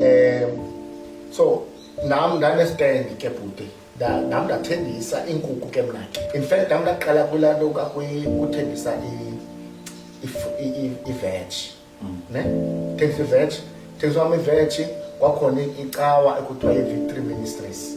um so nam ndanesitendi ke bhuti nam ndathengisa iinkukhu ke mna in fact nam ndaqala kulaa nto kuthengisa iveji mm. ne thengisa iveji thengisa wam iveji kwakhona icawa ekuthiwa yi-victory ministries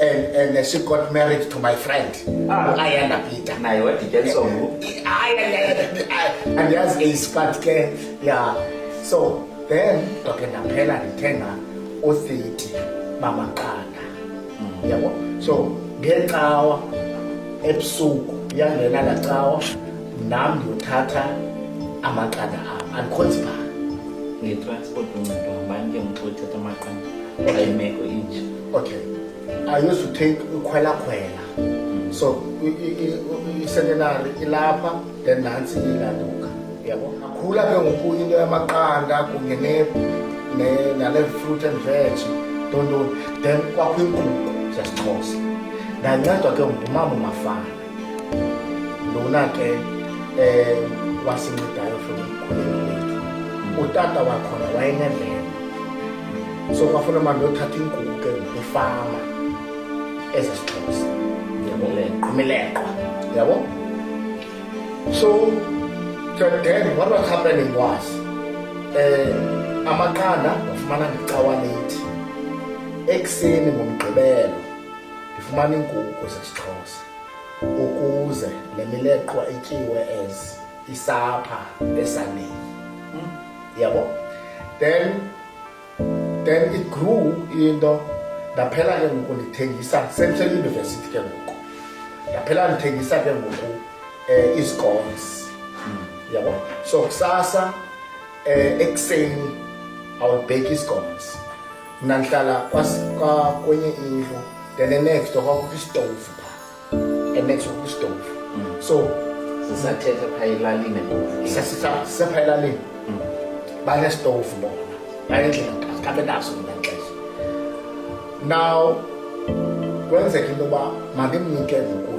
and and uh, she got married to my friend Ah. ayanda peter naye wadityaniswa ngoku Ay, ay, ay, ay, ay. andiyazi eyispat ke ya so then ndoke ndaphela ndithenga uthiti bamaqanda yabo so ngecawa ebusuku yangena laa cawa nam ndiyothatha amaqanda am andikhonzibha ngetransport uncedo hambani ke mxo uthetha amaqanda ayimeko inje okay i used to take ukhwelakhwela so icentenary ilapha then nantsi ilanduka yabo akhula ke ngoku into yamaqanda kunye nale fruit and veg ntontoni then kwakho inkqubo zesixhosa ndancedwa ke ngumama umafana lona ke eh wasincedayo from umkhuleko wethu utata wakhona wayenevela so kwafuna manje othatha ingubo ke ngefama ezesixhosa yabo imileqwa yabo so then what was happening was eh amaqanda ngafumana ngecawa lethi ekuseni ngomgqibelo ndifumana iinkukhu zesixhosa ukuze le mileqwa ityiwe as isapha esaneni hmm? yabo then then it grew into ndaphela ke ngoku ndithengisa central university ke ngoku ndaphela ndithengisa ke ngoku um eh, izicones hmm. yabo so kusasa um ekuseni awubheki izicones mna ndihlala kwenye indlu then enext door kwakukho isitovu pha enext kwakukho isitovu mm. so sisathetha phaa elalini sisapha mm. elalini banesitovu bona bayendlela kabe naso mna xesha now kwenzeka into yoba mandimnike ngoku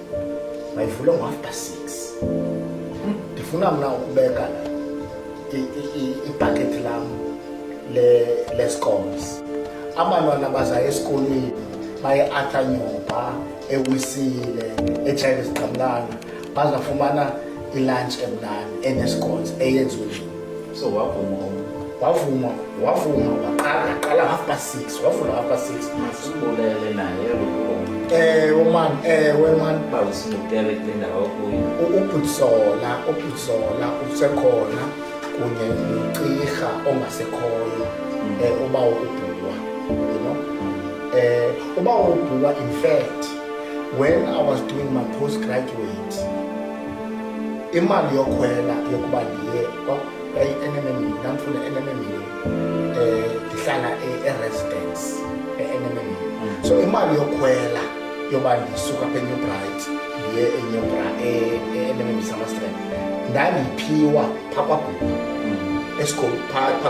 mayivule ngo-after six ndifuna mna ukubeka ibhakethi lam lescoms abantwana baza esikolweni baye athanyoba ewisile etshayibe zigqamlana bazafumana ilunch emnani enescoms eyenziwe so wavuma wavuma wavuma waqala qala half past six wavula half past six masibulele naye ewe man ewe man bawusimutere kule ndawo kuyo ubhutsola ubhutsola usekhona kunye nocirha ongasekhoyo um eh, uba ubhuwa you know um uba ubhuwa in fact when i was doing my post graduate imali yokhwela yokuba ndiye kwayi-nmm ndandifuna nmm um eh, ndihlala eresidence e-nmm mm. so imali yokhwela yoba ndisuka apha enew bright ndiye enew e-nmm samastrand ndandiyiphiwa phaa kwagulu mm. esikolo phaa